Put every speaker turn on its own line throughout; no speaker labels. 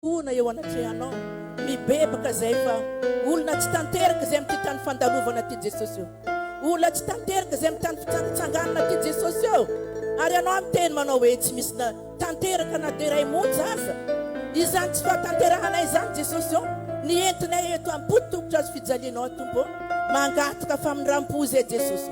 Hono eo anatrehanao mibebaka zay fa olona tsy tanteraka zay amty tany fandalovana ty Jesosy eo olona tsy tanteraka zay amty tany fitsangitsanganana ty Jesosy eo ary anao miteny manao hoe tsy misy na tanteraka na de ray monja aza izany tsy fahatanterahanay izany Jesosy eo ny entinay eto ampo tokotro azo fijalianao tompo mangataka famindrampo zay Jesosy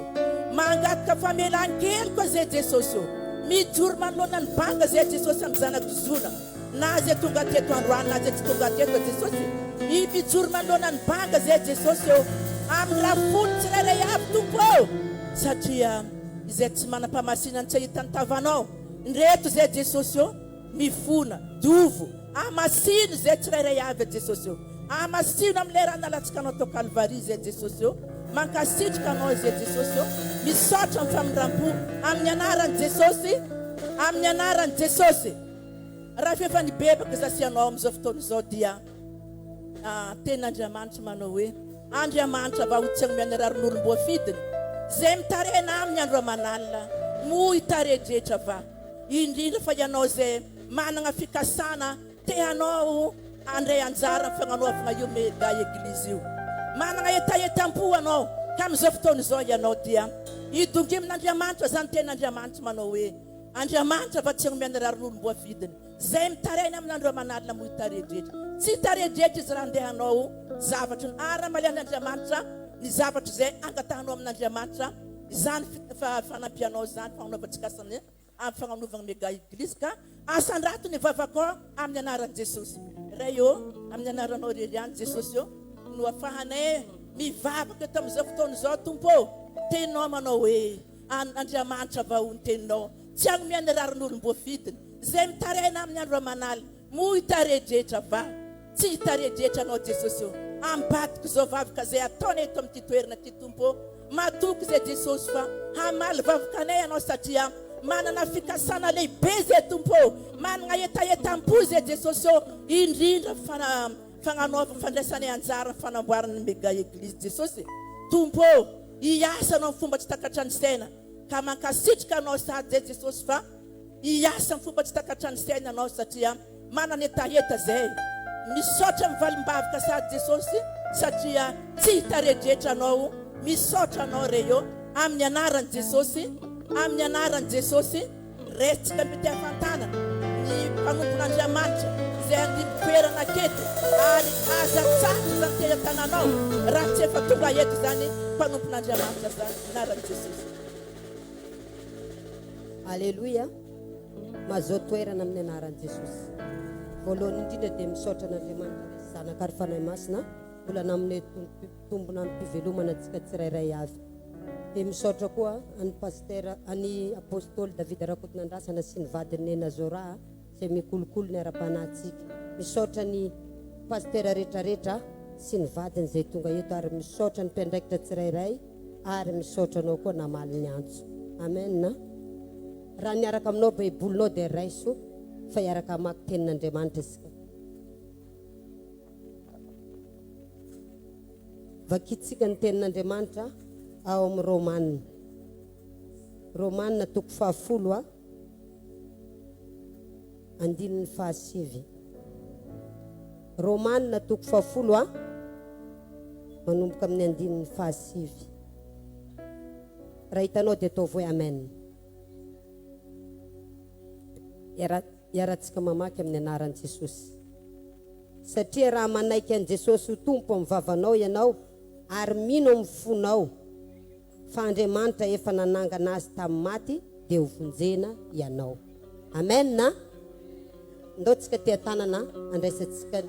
mangataka famelan-keloka zay Jesosy eo mijoro manoloana ny banga zay Jesosy amy zanako zona Na ze tonga teto androany na ze tsy tonga teto Jesosy e! Ny mijoro manoloana ny banga ze Jesosy eo amin'ny rafony tsirairay avy Tompo o! Satria izay tsy manam-pamasinany tsy ahita ny tavanao ndreto ze Jesosy o! Mifona, dovo, amasino ze tsirairay avy e Jesosy o! Amasino amin'ilay ra nalatsikanao tao Kalvary ze Jesosy o! Mankasitrka anao ze Jesosy o! Misaotra amin'ny famindrampo amin'ny anaran'i Jesosy, amin'ny anaran'i Jesosy. Raha efa nibebaka za sy anao amin'izao fotoana izao dia teny Andriamanitra manao hoe Andriamanitra va ho tsy hanome an'i Rarin'olom-boafidiny izay mitarena aminy andro aman'alina moa hitare-dretra va indrindra fa ianao izay manana fikasana te hanao handray anjara amin'ny fagnanoavana io mega eglizy io manana hetahetam-po ianao ka amin'izao fotoana izao ianao dia hidongy amin'Andriamanitra zany teny Andriamanitra manao hoe Andriamanitra fa tsy omeny raha rononom-boavidiny zay mitaraina amin andro aman'alina moa taredretra tsy taredretra izy raha ndeha hanao zavatry ny ara malehan Andriamanitra ny zavatra izay angatahanao amin Andriamanitra izany fanampianao izany fagnanaovan-tsikasany amin fagnanovagna mega eglise ka asandrato ny vavakao amin anaran Jesosy Ray ô amin anaranao rery ihany Jesosy ô no afahanay mivavaka eto amin izao fotoana izao Tompo ô teninao manao hoe. an' Andriamanitra va ho ny teninao? Tsy hanome ny rarin' olom-boafidiny, izay mitaraina amin' ny andro aman'alina, moa ho hitare-drehetra va? Tsy hitare-drehetra anao Jesosy ô! Ambadiko izao vavaka izay ataonay eto amin' ity toerana ity Tompo ô! Matoky izay Jesosy fa hamaly vavaka anay Ianao satria manana fikasana lehibe izay Tompo ô! Manana hetahetam-po izay Jesosy ô! Indrindra fa fagnanovana fandraisanay anjara ny fanamboaran' ny Mega Eglizy Jesosy Tompo ô! Hiasa anao am fomba tsy takatra ny saina ka mankasitrka anao sahady zay Jesosy fa hiasa am fomba tsy takatra ny saina anao satria manana hetaheta zay Misaotra am valimbavka sahady Jesosy satria tsy hitaredretra anao Misaotra anao Reio aminy anarany Jesosy aminy anarany Jesosy. Miresaka ny fitiavan-tanana ny mpanompon'Andriamanitra izay handimby toerana aketo ary aza atsahatra izany teny an-tananao raha tsy efa tonga eto izany mpanompon'Andriamanitra izany anaran'i Jesosy.
Aleloia, mazoa toerana amin'ny anaran'i Jesosy. Voalohany indrindra dia misaotra an'Andriamanitra Ray sy Zanaka ary Fanahy Masina mbola namoney Tompo. Mitombona ampivelomana antsika tsirairay avy. Dia misaotra koa an'i Pasitera, an'i Apostoly David Rakotonandrasana sy ny vadiny Nena Zora izay mikolokolo ny ara-panahintsika. Misaotra ny Pasitera retraretra sy ny vadiny izay tonga eto ary misaotra ny mpiandraikitra tsirairay ary misaotra anao koa namaly ny antso. Amen. Raha miaraka aminao baibolinao dia raiso fa hiaraka hamaky tenin'Andriamanitra isika. Vakintsika ny Tenin'Andriamanitra ao amin'ny Romana. Romana toko fahafolo a. Andininy fahasivy. Romana toko fahafolo a. Manomboka amin'ny andininy fahasivy. Raha hitanao dia ataovy hoe amen. Era Iarahantsika mamaky amin'ny anaran'i Jesosy. Satria raha manaiky an'i Jesosy ho Tompo amin'ny vavanao ianao ary mino amin'ny fonao fa Andriamanitra efa nanangana Azy tamin'ny maty dia ho vonjena ianao. Amen! Ndao tsika tia tanana andraisantsika ny.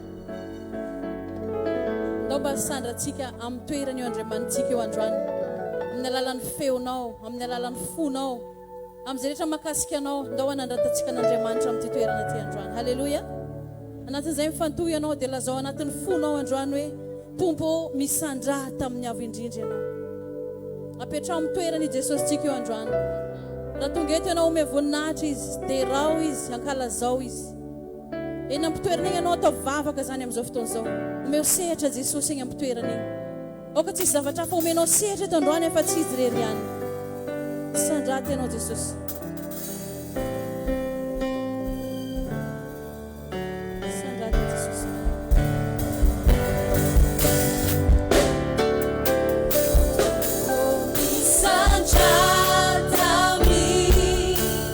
Ndao mba sandrantsika amin'ny toeran'io Andriamanitsika io androany, amin'ny alalan'ny feonao, amin'ny alalan'ny fonao, amin'izay rehetra makasika anao, ndao hanandratantsika an'Andriamanitra amin'ity toerana ity androany. Haleloia! Anatin'izay mifantoha ianao dia lazao anatin'ny fonao androany hoe Tompo ô, misandra tamin'ny avo indrindra ianao. Apetraho amin'ny toerany i Jesosintsika io androany. Raha tonga eto ianao, omeo voninahitra Izy, deraho Izy, ankalazao Izy. Eny am-pitoerana eny ianao ataovy vavaka izany amin'izao fotoana izao. Omeo sehatra Jesosy eny am-pitoerana eny. Aoka tsy hisy zavatra hafa omenao sehatra eto androany afa-tsy Izy irery ihany. Sandraty ianao Jesosy.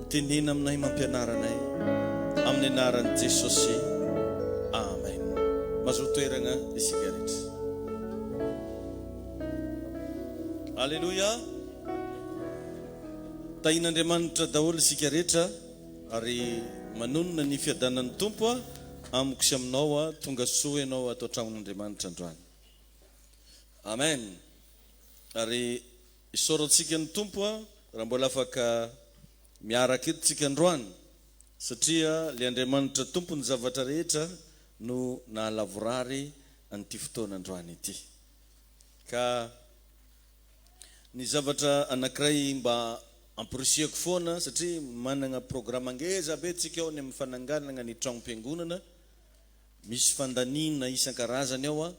Mitenena aminay mampianara anay amin'ny anaran'i Jesosy. Amen. Mazoa toeragna isika rehetra. Aleloia. Tahin'Andriamanitra daholo isika rehetra ary manonona ny fiadanan'ny Tompo amiko sy aminao. Tonga soa ianao ato an-tragnon'Andriamanitra androany. Amen. Ary Isaorantsika ny Tompo raha mbola afaka miaraka eto tsika androany satria le Andriamanitra Tompon'ny zavatra rehetra no nahalavorary an'ity fotoana androany ity. Ka ny zavatra anankiray mba amporisihako foana satria manana programa ngeza be tsika ao any amin'ny fananganana ny tragnom-piangonana, misy fandaniana isan-karazany ao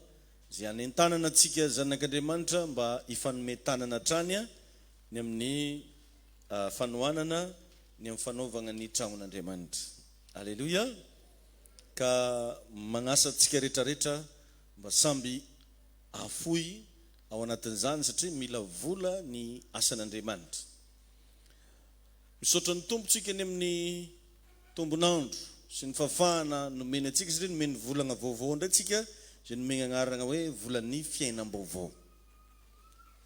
Izay hanentanana antsika zanak'Andriamanitra mba hifanome tanana hatrany ny amin'ny fanohanana ny amin'ny fanaovana ny tranon'Andriamanitra. Aleloia! Ka manasa antsika rehetrarehetra mba samby hafoy ao anatin'izany satria mila vola ny asan'Andriamanitra. Misaotra ny Tompo tsika ny amin'ny. tombon'andro sy ny fahafahana nomeny antsika satria nomeny volagna vaovao indray tsika izay nomeny agnaragna hoe volan'ny fiainam-baovao.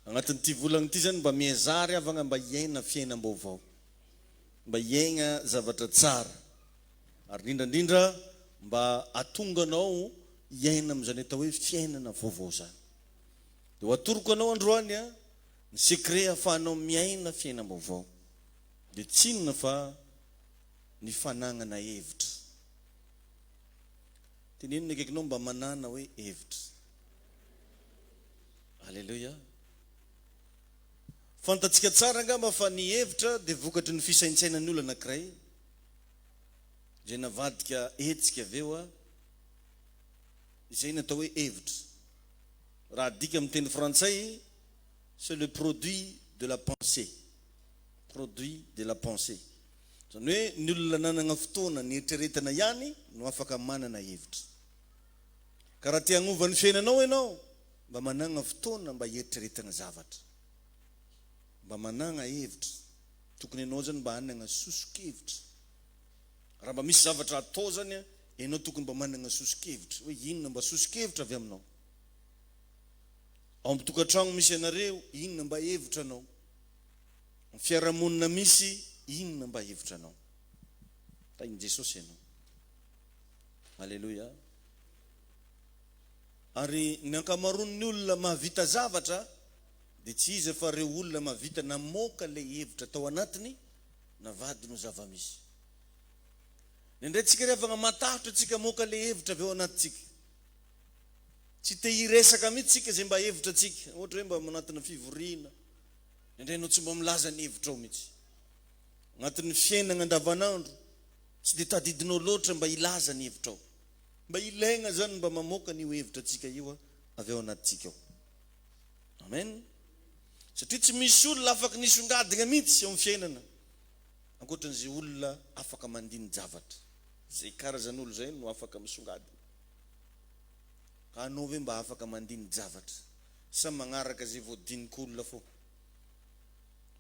Agnatin'ity volagna ity zany mba miezaha ry havagna mba hiaina fiainam-baovao, mba hiaigna zavatra tsara ary indrindra indrindra mba hatonga anao hiaina amin'izany atao hoe fiainana vaovao zany. Dia ho atoroko anao androany ny secret ahafahanao miaina fiainam-baovao. Dia tsy inona fa ny fanagnana hevitra. Teneno ny akaikinao mba manana hoe hevitra. Aleloia. Fantatsika tsara angamba fa ny hevitra dia vokatry ny fisaintsainan'ny olona anankiray, izay navadika hetsika avy eo. Izay no atao hoe hevitra. Raha adika amin'ny teny frantsay, c'est le produit de la pensée. produit de la pensée. Izany hoe ny olona nanana fotoana niheritreretana ihany no afaka manana hevitra. Ka raha te hagnova ny fiainanao ianao, mba managna fotoana mba hiheritreretana zavatra. Mba managna hevitra. Tokony ianao izany mba hanagna soso-kevitra. Raha mba misy zavatra hatao izany an, ianao tokony mba managna soso-kevitra. Hoe inona mba soso-kevitra avy aminao. Ao amin'ny tokantragno misy anareo, inona mba hevitranao. Ny fiarahamonina misy inona mba hevitranao? Tahin'i Jesosy ianao. Aleloia. Ary ny ankamaroan'ny olona mahavita zavatra dia tsy iza fa ireo olona mahavita namoaka ilay hevitra tao anatiny na vadiny ho zava-misy. Indraindray tsika ry havagna matahotra tsika hamoaka ilay hevitra avy ao anatintsika. Tsy te hiresaka mihitsy tsika izay mba hevitra tsika, ohatra hoe mba anatina fivoriana. Indraindray enao tsy mba milaza ny hevitrao mihitsy. Agnatin'ny fiainagna andavanandro, tsy dia tadidinao loatra mba hilaza ny hevitrao. Mba ilaigna zany mba mamoaka an'io hevitratsika io avy ao anatintsika ao. Amen. Satria tsy misy olona afaky nisongadina mihitsy eo amin'ny fiainana ankoatran'izay olona afaka mandini-javatra. Izay karazan'olo zay no afaka misongadina. Ka anao ve mba afaka mandini-javatra? sa magnaraka ze voadiniko olona fô?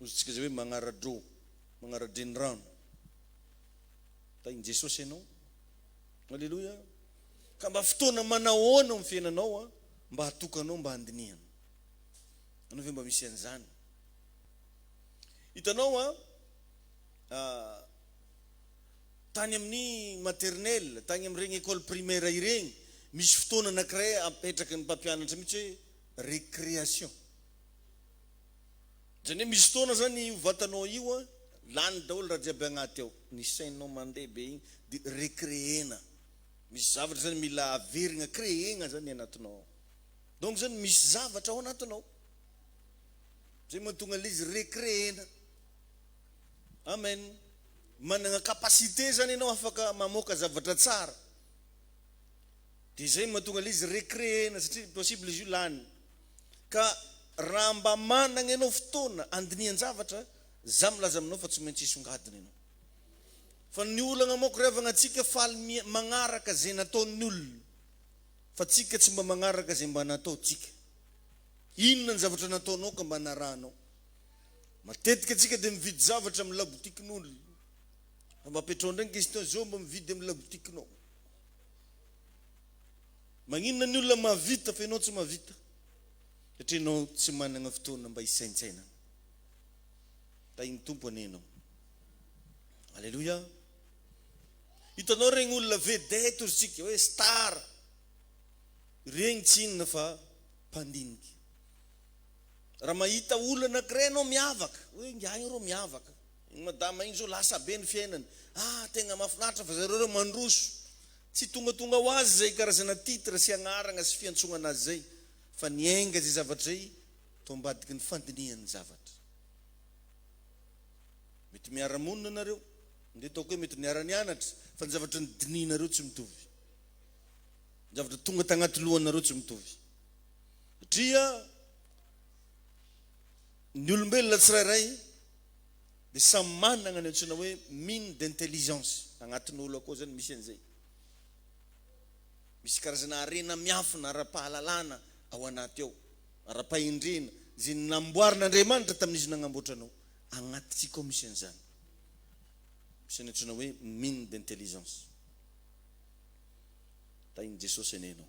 Ozintsika ze hoe magnara-drô, magnara-drenirano tahin'i Jesosy ianao. Aleloia! Ka mba fotoana manahoana ao amin'ny fiainanao an, mba hatokanao mba handinihana? Anao ve mba misy an'izany? Hitanao an, tany amin'ny maternelle, tany amin'ireny école primaire ireny, misy fotoana anankiray apetraky ny mpampianatra mihitsy hoe récréation. Izany hoe misy fotoana izany io vatanao io lany daholo raha jiaby agnaty ao, ny sainao mandeha be igny dia récréer-na. Misy zavatra izany mila averigna, créer-gna izany ny anatinao ao. Donc izany misy zavatra ao anatinao. Izay mahatonga ilay izy récréer-na. Amen. managna capacité zany enao afaka mamoaka zavatra tsara de zay mahatonga le izy recree-na satria possible izy io lany ka raha mba managna enao fotoana andinihan-javatra za milaza aminao fa tsy maintsy hisongadina enao fa ny olagna manko ry havagna tsika faly mia- magnaraka ze nataon'ny olona fa tsika tsy mba magnaraka ze mba nataontsika inona ny zavatra nataonao ka mba narahanao Matetika antsika dia mividy zavatra amin'ny labotikin'ol. Fa mba apetraho indray ny question zao, mba mividy amin'ny labotikinao? Maninona ny olona mahavita fa ianao tsy mahavita? Satria ianao tsy managna fotoana mba hisaintsainana. Tahin'ny Tompo anie ianao. Aleloia. Hitanao regny olona vedette ozy tsika hoe star. Regny tsy inona fa mpandiniky. Raha mahita olona anakiray ianao miavaka hoe ingahy io rô miavaka iny madama iny zao lasa be ny fiainany ah tegna mafinaritra fa zareo reo mandroso tsy tongatonga ho azy zay karazana titre sy agnaragna sy fiantsogna anazy zay fa ny enga zay zavatra zay to ambadiky ny fandinihany zavatra mety miara monina nareo nde ataoko hoe mety niara nianatra fa ny zavatra ny dinihinareo tsy mitovy ny zavatra tonga tagnaty lohanareo tsy mitovy. Satria ny olombelona tsirairay dia samy manana ny antsoina hoe mine d'intelligence. Agnatin'ny olo akao zany misy an'izay. Misy karazana harena miafina ara-pahalalana ao anaty ao, ara-pahendrena, izay namboarin'Andriamanitra tamin'izy nagnamboatra anao. Agnatintsika ao misy an'izany. Misy ny antsoina hoe mine d'intelligence. Tahin'i Jesosy anie ianao.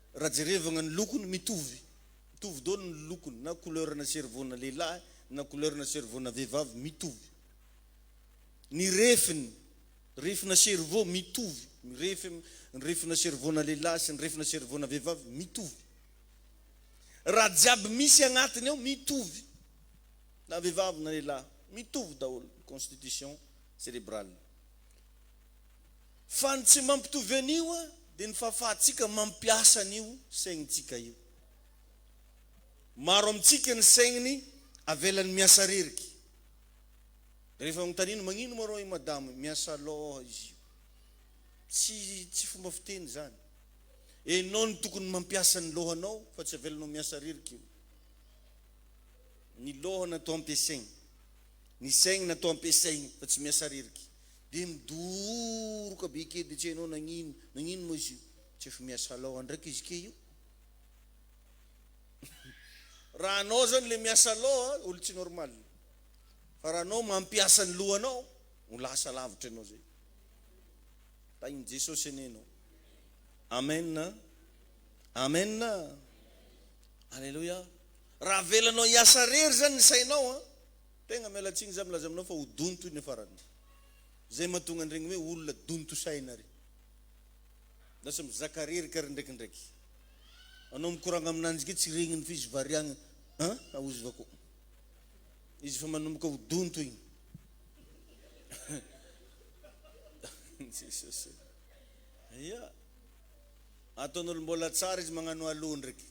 Raha jerevagna ny lokony mitovy, mitovy dôly ny lokony na couleur na cerveau na lehilahy na couleur na cerveau na vehivavy mitovy. Ny refiny, refy na cerveau mitovy, mirefy ny refy na cerveau na lehilahy sy ny refy na cerveau na vehivavy mitovy. Raha jiaby misy agnatiny ao mitovy, na vehivavy na lehilahy mitovy daholo ny constitution cerebrale. Fa ny tsy mampitovy an'io dia ny fahafahantsika mampiasa an'io sainintsika io. Maro amintsika ny saigny avelany miasa ririky. Rehefa anontaniana, magnino moa rô i madama miasa lôha izy io? Tsy tsy fomba fiteny zany. Enao no tokony mampiasa ny lôhanao fa tsy avelanao miasa ririky io. Ny lôha natao ampiasaigny. Ny saigny natao ampiasaigny fa tsy miasa ririky. Dia midoroka be kely dia tsy hainao nagnino nagnino moa izy io. Tsy efa miasa law andraika izy kay io. Raha anao zany le miasa law a, olo tsy normal. Fa raha anao mampiasa ny lohanao, ho lasa lavitra ianao zay. Tahin'i Jesosy anie ianao. Amen a! Amen a! Aleloia! Raha avelanao hiasa rery zany ny sainao a, Tegna miala tsiny za milaza aminao fa ho donto iny farany ry. Zay mahatonga an'iregny hoe olona donto saina ry. Lasa mizaka reraka ry ndraikindraiky. Anao mikoragna aminanjy ke tsy regniny fa izy variagna an aozva ko. Izy efa manomboka ho donto igny. Jesosy ô. Ia. Ataon'olo mbola tsara izy magnano alou ndraiky.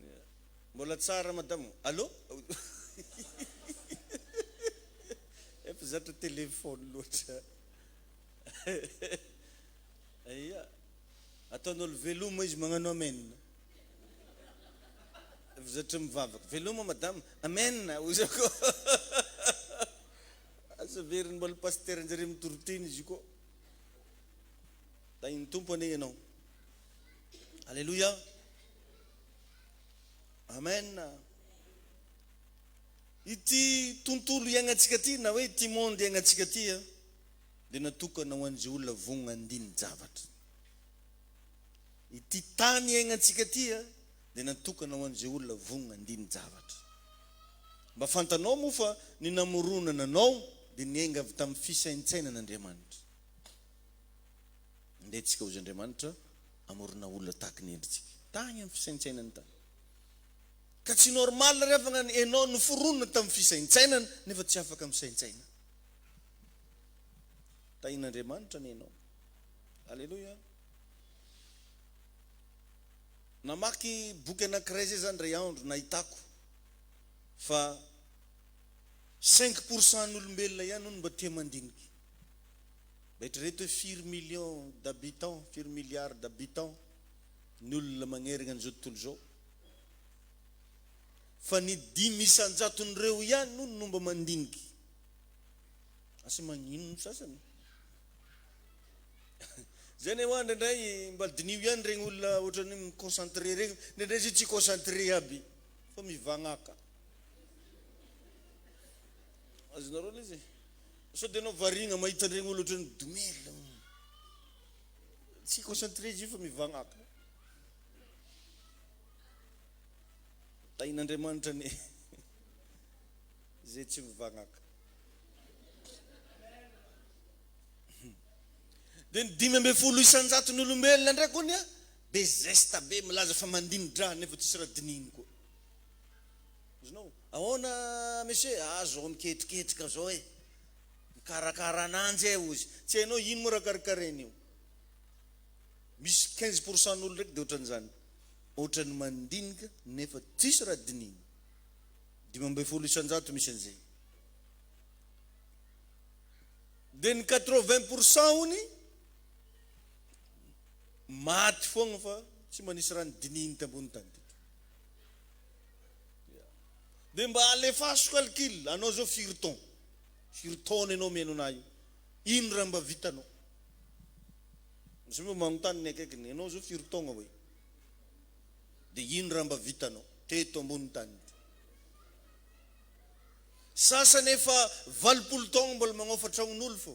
Ia. Mbola tsara madamo. Allô? Efa zatra téléphone loatra. Aia. Ataon'olo veloma izy magnano amen. Efa zatra mivavaka. Veloma madamo. Amen hoy za ko. Asa averiny mbola pasteur njare mitoriteny izy ko. Tahin'ny Tompo anie ianao. Alléluia. Amen. Ity tontolo iainantsika ity na hoe ity monde iainantsika ity dia natokana ho an'izay olona vonona andinin-javatra. Ity tany iainantsika ity dia natokana ho an'izay olona vonona andinin-javatra. Mba fantanao moa fa ny namoronana anao dia niainga avy tamin'ny fisaintsainan'Andriamanitra. Andeha tsika hozy Andriamanitra Amorona olona tahaky ny endritsika tagny am fisaintsainany tagny ka tsy normal re fa ngany enao noforonina tam fisaintsainana nefa tsy afaka misaintsaina tahin Andriamanitra anie enao aleloia namaky boky anakiray zay za ndray andro nahitako fa cinq pourcent ny olombelona ihany hono mba tia mandinika. Eritrereto hoe firy millions d'habitants, firy milliards d'habitants ny olona magnergna an'izao tontolo izao. Fa ny dimy isan-jaton'ireo ihany hono no mba mandiniky. Asa magnino ny sasany? Zay anie hoa ndraindray mba diniho ihany regny olona ohatrany hoe mi-concentrer regny, ndraindray zay tsy concentrer aby fa mivagnaka. Azonareo aloha izy e. Sao dia anao variana mahita an'iregny olo ohatran'i Doumel an. Tsy concentré izy io fa mivagnaka. Tahin'Andriamanitra anie zay tsy mivagnaka. Dia ny dimy ambin'ny folo isan-jaton'ny olombelona indray koa anie be zesta be milaza fa mandini-draha nefa tsisy raha dinihiny koa. Azonao? Ahoana monsieur? Aza ho miketriketrika zao e! Mikarakara ananjy e! hoy izy. Tsy hainao ino moa raha karakaraina io? Misy quinze pour cent n'olo ndraiky dia ohatran'izany, ohatran'ny mandinika nefa tsisy raha dinihina. Dimy ambin'ny folo isan-jato misy an'izay. Dia ny quatre vingt pour cent hono maty foagna fa tsy mba nisy raha nodinihiny tambonin'ny tany teto. Dia mba alefaso calcul anao zao firy taon firy taona enao mihaino anah io ino raha mba vitanao zao mba manontany ny akaikiny enao zao firy taogna oe dia ino raha mba vitanao teto ambony tany ity sasany efa valopolo taogna mbola magnaofa tragnon'olo fô.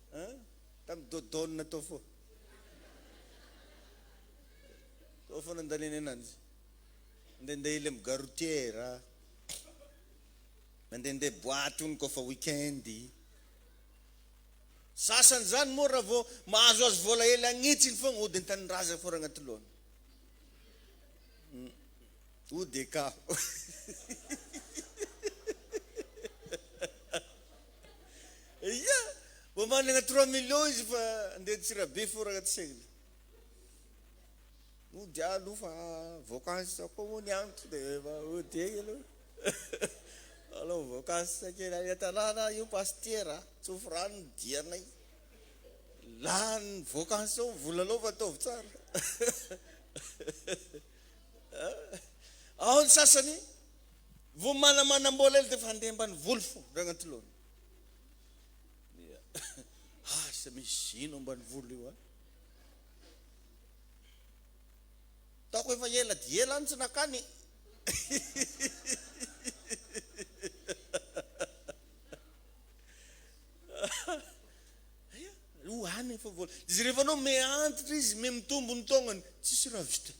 An? Tam dodoon tao fô. Tao fô nandaniany ananjy. Ndendeha ely am gare routière. Mandendeha boite hono kôfa week-end. Sasany zany moa raha vao mahazoazo vôla ely agnitsiny fôgna hody an-tanindrazagna fô raha agnaty lôhany. Hody eka. Eia! Vao managna trois millions izy fa andeha Antsirabe fô raha tsy aigna. Hody ahy aloha fa voankazo zao koa moa ny andro de efa hody egny aloha. Alao voankazo sa kely any an-tanàna io pastiera a, tsofy rano ny dianay. Lany voankazo zao ny vola alao fa ataovy tsara. Ao ny sasany Vao manamanam-bola ela dia efa handeha ambany voly fo Ragnantolony. Dia asa misy ino ambany voly io a? Taoko efa ela dia ela any tsy nakany. Ho any efa vola. Dia rehefa anao me antitra izy, me mitombo ny taognany, tsisy raha vitany.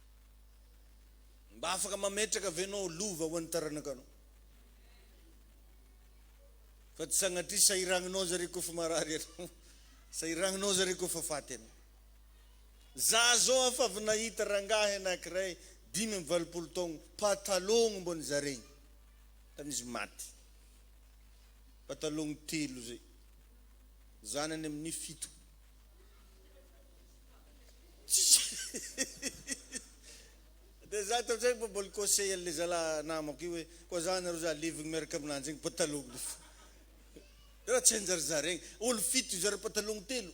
Mba afaka mametraka ve ianao lova ho an'ny taranakanao? Fa tsy sanatria sahiragninao zareo koa fa marary ianao, sahiragninao zareo koa fa faty ianao. Za zao afa avy nahita rangahy anankiray dimy amby valopolo taogno patalogno mbô nizaregny tany izy maty. Patalogno telo zay, zanany amin'ny fito. Dia za tamin'izay mba mbola conseil an'ilay zalahy namako io hoe, koa za nareo za levogny miaraka aminanjy iny pataloha le fo. Raha tsy anjarizaregny. Olo fito hizara patalogno telo.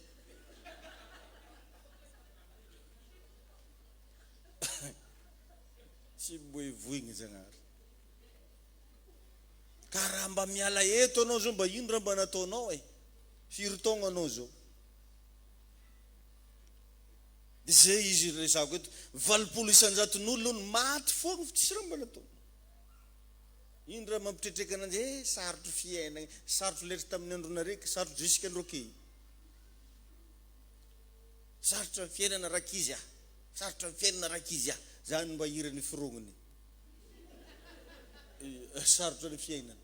Tsy boevoigny Zagnahary. Ka raha mba miala eto anao zao mba ino raha mba nataonao e? Firy taogno anao zao? Dia izay izy iresahako eto. Valopolo isan-jaton'olona hono, maty foagna fa tsisy raha mbola atao. Ino raha mampitretreka ananjy, eh sarotro fiainagna, sarotro letra tamin'ny andronareo ky, sarotro jusque andro ky. Sarotra ny fiainana rankizy ah, sarotra ny fiainana rankizy ah, zany mba hiran'i forognony. Sarotra ny fiainana.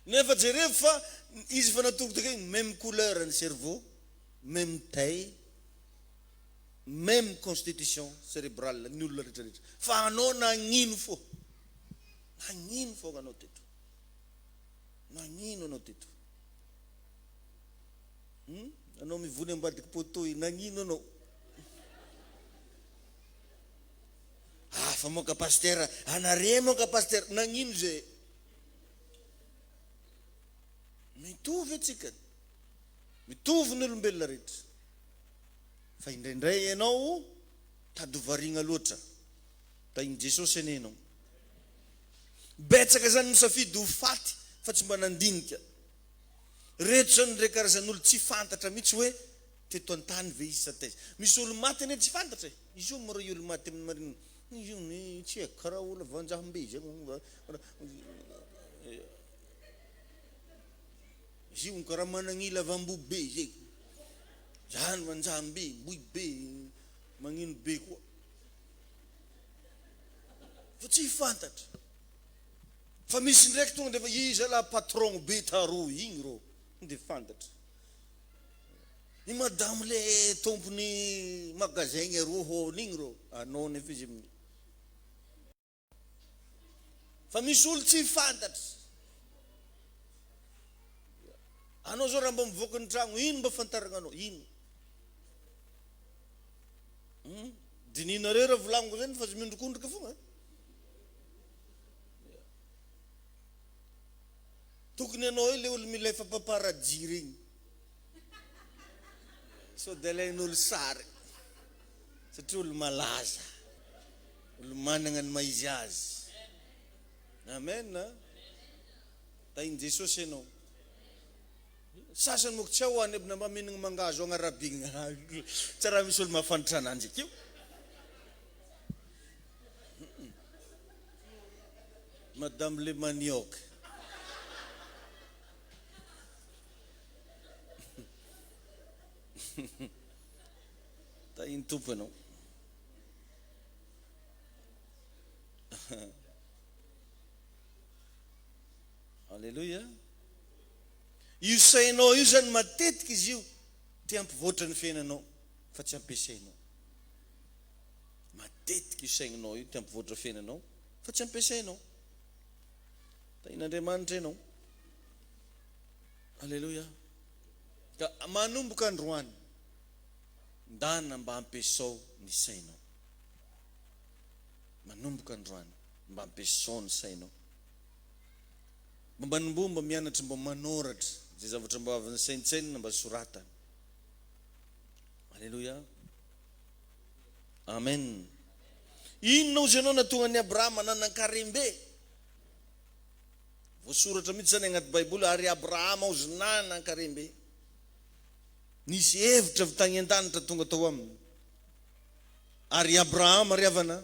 Nefa jerevo fa izy efa natoroka kay même couleur ny cerveau, même taille, même constitution cerebrale ny olona rehetra rehetra fa anao nagnino fô? Nagnino fô anao teto? Nagnino anao teto? Hum? Anao mivory ambadiky poteau io nagnino anao? Hafa moa ka pasitera, anaré moa ka pasitera, nagnino zé? Mitovy antsika, mitovy ny olombelona rehetra fa indraindray ianao tady variana loatra. Tahin'i Jesosy anie ianao. Betsaka izany misafidy ho faty fa tsy mba nandinika. Ireto izao indray karazan'olo tsy fantatra mihitsy hoe teto an-tany ve izy sa taiza. Misy olo maty anie tsy fantatra e. Izy io moa rey olo maty amin'ny marinina. Izy io ny tsy haiko karaha olona vanjahom-be izay moa nga izy io karaha managnila vamboho be izay zany vanjahom-be boy be magnino be koa fa tsy fantatra fa misy ndraiky tonga dia fa iza lah patron be taroa igny rô dia fantatra I madame le tompony magasin gny roa hony igny ro anony efa izy mni fa misy olo tsy fantatry anao zao ra mba mivoaka ny tragno ino mba fantaragnanao ino hum dininareo ra volagniko zany fa tsy miondrikondrika fogna tokony anao io le olo mila efa mpaparajiry igny Sao dia alain'olo sary satria olo malaza, olo managna ny maha izy azy. Amen a! Tahin'i Jesosy ianao. Sasany moko tsy ao any aby na mba mihinagna mangahazo agny Arabie agny. Tsy raha misy olo mahafantatra ananjy akeo. Madame le manioc. Tahin'ny Tompo ianao. Alléluia. Io sainao io zany matetika izy io te hampivoatra ny fiainanao fa tsy ampiasainao. Matetika io saininao io te hampivoatra fiainanao fa tsy ampiasainao. Tahin'Andriamanitra ianao. Aleloia! Ka manomboka androany, ndana mba ampiesao ny sainao. Manomboka androany, mba ampiesao ny sainao. Mba manomboha mba mianatra mba manoratra izay zavatra mba avy nisaintsainina mba soratana. Aleloia! Amen! Inona hozy ianao natonga an'i Abrahama nanan-karem-be? Voasoratra mihitsy izany agnaty baiboly ary Abrahama ozy nanan karembe. Nisy hevitra avy tagny andanitra tonga tao aminy. Ary i Abrahama ry havana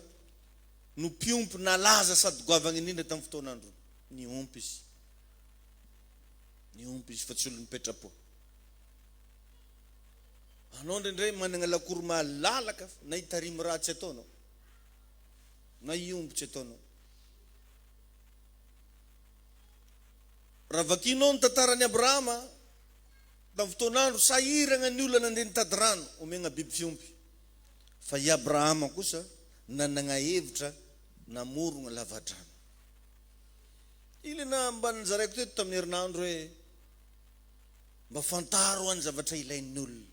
no mpiompy nalaza sady goavagna indrindra tam fotoan androny. Niompy izy. Niompy izy fa tsy olony petrapo. Anao ndraindray managna lakoro malalaka na hitarimy raha tsy ataonao. Na hiompy tsy ataonao. Raha vakianao ny tantaran'i Abrahama tamin'ny fotoan'andro sahiragna ny olona nandeha nitady rano omegna biby fiompy. Fa i Abrahama kosa nanagna hevitra namorogna lavadrano. Ilena mba nozaraiko teto tamin'ny herinandro hoe mba fantaro any zavatra ilain'ny olona.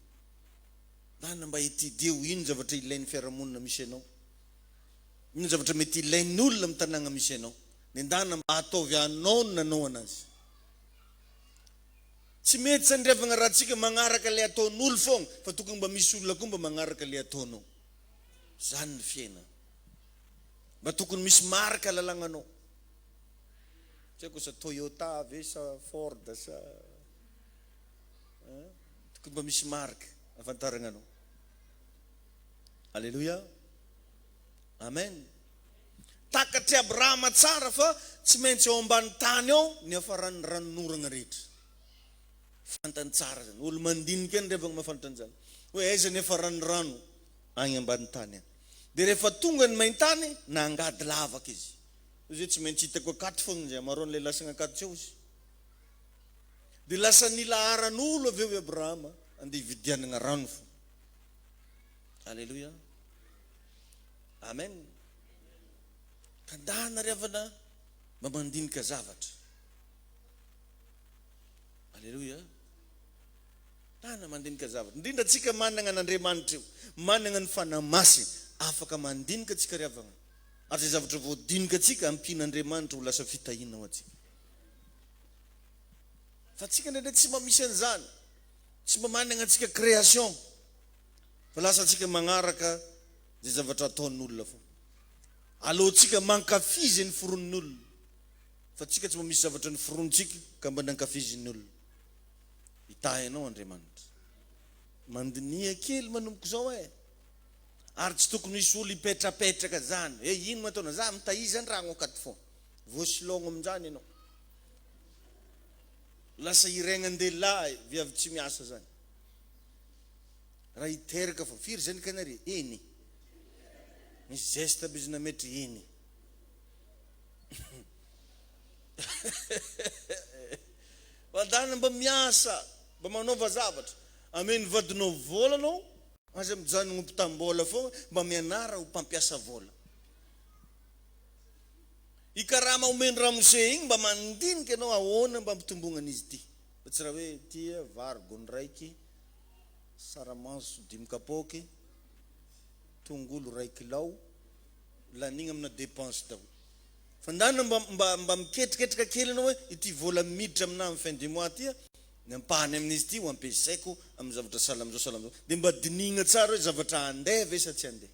Nana mba etidieo ino zavatra ilain'ny fiarahamonina misy anao. Inona ny zavatra mety ilain'ny olona amin'ny tanàna misy anao? Nendahana mba hataovy anao ny nanaovana azy. Tsy mety sandrefagna raha antsika magnaraka ilay ataon'olo fogna fa tokony mba misy olona koa mba magnaraka ilay ataonao. Zany ny fiainana. Mba tokony misy marika lalagnanao. Tsy haiko sa Toyota ve sa Ford sa tokony mba misy marika ahafantaragna anao. Aleloia! Amen! Takatr'i Abrahama tsara fa tsy maintsy ao ambany tany ao ny hafaran'ny ranonoragna rehetra. Fantany tsara zany. Olo mandinika any revagna mafantra an'izany. Hoe aiza ny hafaran'ny rano? Agny ambany tany agny. Dia rehefa tonga ny main-tany, nangady lavaka izy. Izy hoe tsy maintsy hitako akato fogna izy, amarao an'ilay lasagna akato tsy ao izy. Dia lasa nilaharan'olo avy eo i Abrahama, andeha hividianagna rano fo. Aleloia. Amen. Tandahana ry havana mba mandinika zavatra. Aleloia. Tana mandinika zavatra. Indrindra antsika managna an'Andriamanitra io. Managna ny fanahy masina. Afaka mandinika antsika ry havana. Ary izay zavatra voadinika antsika ampian'Andriamanitra ho lasa fitahiana ho antsika. Fa antsika indraindray tsy mba misy an'izany. Tsy mba managna antsika création fa lasa antsika magnaraka ze zavatra ataon'olona fô. Aleontsika mankafy ze noforonin'olona fa tsika tsy mba misy zavatra noforonintsika ka mba nankafizin'olona. Hitahy anao Andriamanitra. Mandiniha kely manomboka zao eh! Ary tsy tokony hisy olo hipetrapetraka zany hoe ino no ataonao? Za mitahiza andragno akato fô. Voasilogno aminjany enao. Lasa hiregnan-dehilahy viavy tsy miasa zany raha hiteraka fô firy zany ka nare eny misy zeste aby izy nametra eny Vadana mba miasa mba manaova zavatra ameny vadinao vola anao aza mijanogno mpitam-bola fôgna mba mianara ho mpampiasa vola. Io karama omen'i ramose iny mba mandinika ianao ahoana mba ampitombognan'izy ity fa tsy raha hoe tia vary gony raiky, saramanso dimy kapoaky, tongolo ray kilao, lanigna amina depense daholo. Fandàna mba mba mba miketriketraka kely ianao hoe ity vola miditra aminà amin'ny fin du mois ty a, ny ampahany amin'izy ity ho ampiasaiko amin'ny zavatra sahala amin'izao sahala amin'izao. Dia mba dinihigna tsara hoe zavatra andeha ve sa tsy andeha.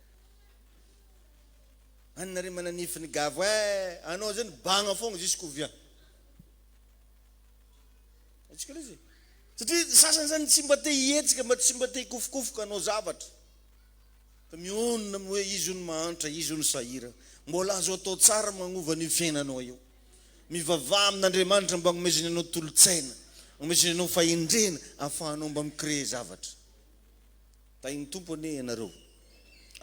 Any nareo mananifiny gavo eh anao zay ny bagna fogna jusqu'ouvien atsika le zay satria ny sasany zany tsy mba te hihetsika mba tsy mba te hikofokofoka anao zavatra fa mionona amin'ny hoe izy io ny mahantra izy io ny sahira mbola azo atao tsara magnova an'io fiainanao io mivavaha amin'Andriamanitra mba agnomezany anao tolotsaina agnomezany anao fahendrena afahanao mba mi-créer zavatra Tahin'ny Tompo anie ianareo,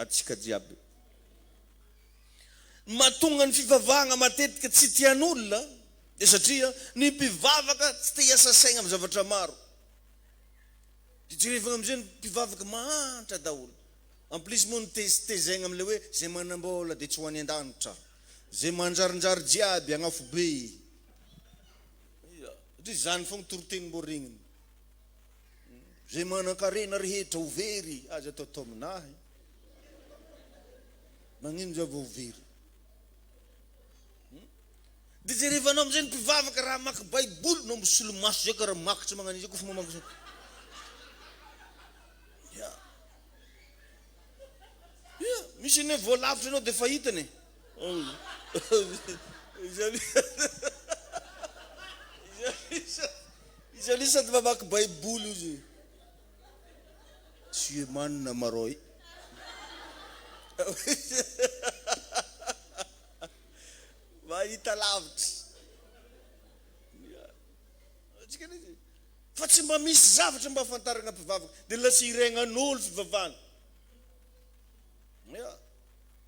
antsika jiaby. Ny mahatonga ny fivavahana matetika tsy tian'olona dia satria ny mpivavaka tsy te hiasa saina amin'ny zavatra maro. Dia jerevana amin'izay ny mpivavaka mahantra daholo. En plus moa ny tezitezaina amin'ilay hoe izay manam-bola dia tsy ho any an-danitra, izay manjarinjary jiaby hagnafobe. Ia, satria izany foana toritenim-boaregniny. Zay manankarena rehetra ho very aza atao atao aminahy. Magnino za vao ho very? Hmm? Dia jerevanao amin'izay ny mpivavaka raha mamaky Baiboly no misolomaso zay ka raha mamaky tsy magnano izay koa fa mamaky zay. Yeah. Yeah. Misy ny hoe voalavitra ianao dia fahitany. Izany sady mamaky baiboly izy. Tu es man Maroy. Mahita lavitra. Fa tsy mba misy zavatra mba afantarana mpivavaka dia lasa iregnan'olo fivavahana. Yeah.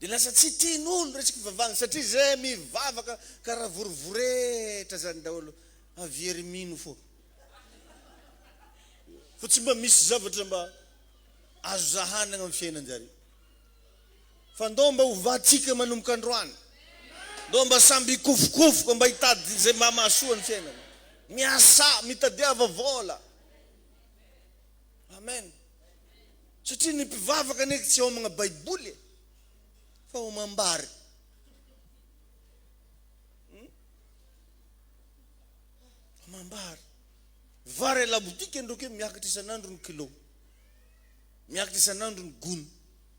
Dia lasa tsy tian'olo resaka fivavahana satria zay mivavaka karaha vorivoretra zany daholo avy ery mino fo fa tsy mba misy zavatra mba azo zahanagna am fiainanjare fa ndao mba hovatsika manomboka androany ndao mba samby hikofokofoka mba hitady zay mba mahasoa ny fiainana miasà mitadiava vôla amen. Satria ny mpivavaka anie tsy homagna baiboly e! Fa homam-bary. Hum? Homam-bary. Vary à la boutique ndroky miakatra isan'andro ny kilo. Miakatra isan'andro ny gony.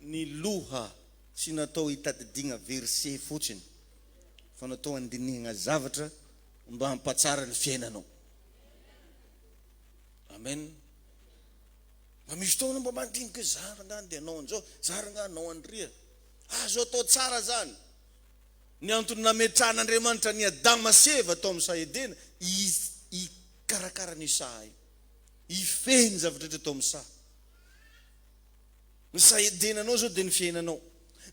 ny loha tsy natao hitadidiagna verset fotsiny fa natao handinihagna zavatra mba hampatsara ny fiainanao Amen mba misy fotoagna anao mba mandinika hoe za rangah ndeha hanao an'izao za rangah hanao an'iria azo atao tsara zany ny antony nametrahan'Andriamanitra an'i Adama sy Eva tao amin'ny saha Edena hikarakara an'io saha io hifehy ny zava-drehetra tao amin'ny saha Ny sahedenanao izao dia ny fiainanao.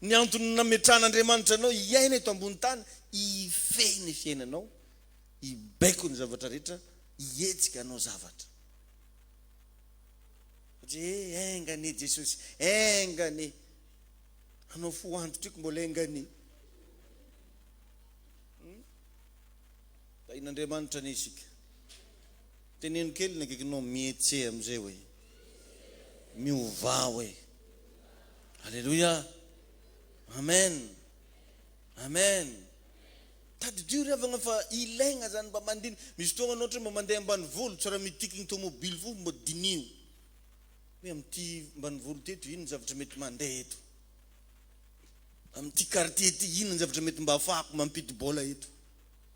Ny antony nametrahan'Andriamanitra anao hiaina eto ambony tany, hifehy ny fiainanao, hibaiko ny zavatra rehetra, hihetsika hanao zavatra. Satria he, enga anie Jesosy, enga anie. Anao fo antitra io ko mbola enga anie. Tahin'Andriamanitra anie isika. Teneno kely ny akaikinao mietse amin'izay hoe, miovà hoe. Aleloia! Amen! Amen! Tadidio ry havagna fa ilaigna izany mba mandini, misy fotoagna anao ohatra mba mandeha ambanivolo tsy raha mitiky ny tomobily fo mba diniho hoe amin'ity ambanivolo ity eto ino ny zavatra mety mandeha eto, amin'ity quartier ity ino ny zavatra mety mba afahako mampidi-bola eto.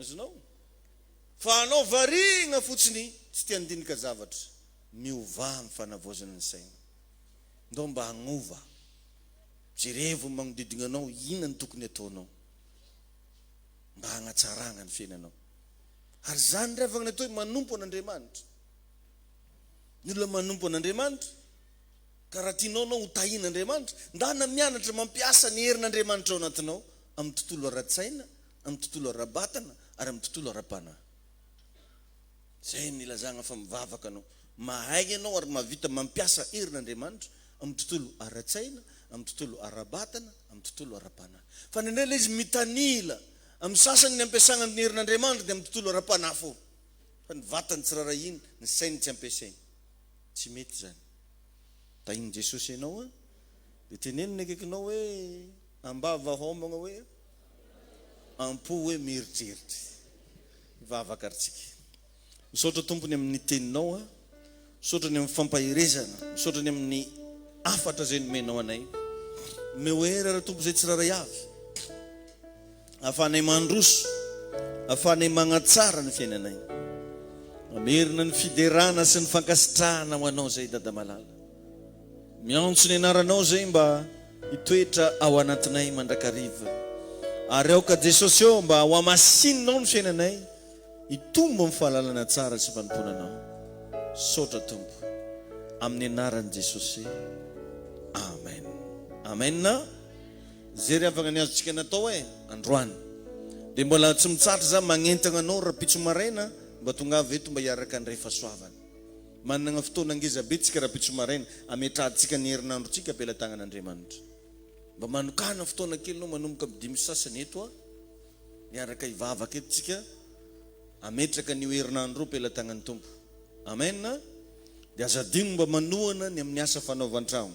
Azonao? Fa anao variana fotsiny tsy te handinika zavatra. Miovà amin'ny fanavaozana ny saina. Ndao mba hagnova. Jerevo ny magnodidina anao, inona no tokony hataonao mba hagnatsarana ny fiainanao. Ary izany ndray vagna atao hoe manompo an'Andriamanitra. Ny olona manompo an'Andriamanitra. Ka raha tianao ianao ho tahin'Andriamanitra, ndana mianatra mampiasa ny herin'Andriamanitra ao anatinao amin'ny tontolo ara-tsaina, amin'ny tontolo ara-batana ary amin'ny tontolo ara-panahy. Izay no ilazana fa mivavaka anao. Mahay ianao ary mahavita mampiasa herin'Andriamanitra amin'ny tontolo ara-tsaina, amin'ny tontolo ara-batana, amin'ny tontolo ara-panahy. Fa indraindray ilay izy mitanila, amin'ny sasany ny ampiasana ny herin'Andriamanitra dia amin'ny tontolo ara-panahy foana, fa ny vatany tsy raharahiany, ny sainy tsy ampiasainy. Tsy mety izany. Tahin'i Jesosy ianao an! Dia teneno ny akaikinao hoe, ambava hômagna hoe, am-po hoe mieritreritra. Hivavaka ary tsika. Misaotra Tompo ny amin'ny Teninao an! Misaotra ny amin'ny fampaherezana. Misaotra ny amin'ny hafatra izay nomenao anay. Omeo hery ary Tompo izay tsirairay avy. Ahafahanay mandroso, ahafahanay magnatsara ny fiainanay. Mamerina ny fiderana sy ny fankasitrahana ho anao zay Dada malala. Miantso ny anaranao zay mba hitoetra ao anatinay mandrakariva. Ary aoka Jesosy ô mba hohamasininao ny fiainanay hitombo amin'ny fahalalana tsara sy fanompoana anao. Misaotra Tompo. Amin'ny anaran'i Jesosy. Amen. Amen. Zere havagna ny azontsika natao eh androany de mbola tsy mitsatra za magnentagna anao rapitso maraina mba tongava eto mba hiaraka handray fasoavana managna fotoana ngeza be tsika rapitso maraina ametrahantsika ny herinandro tsika ampelatagnana Andriamanitra mba manokana fotoana kely anao manomboka am dimy sasany eto a miaraka hivavaka eto tsika ametraka anio herinandro io ampelatagnany Tompo Amen de aza adigno mba manohana ny aminy asa fanaovan-tragno.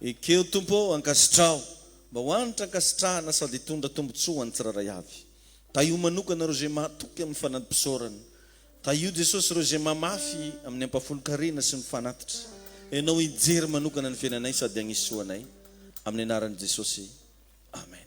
Ekeo Tompo ô, ankasitraho, mba ho hanitra ankasitrahana sady hitondra tombontsoa ho an'ny tsirairay avy. Tahio manokana ireo izay mahatoky amin'ny fanadimpisaorana. Tahio Jesosy ireo izay mamafy amin'ny ampahafolon-karena sy ny fanatitra. Ianao hijery manokana ny fiainanay sady hagnisoanay. Amin'ny anaran'i Jesosy. Amen.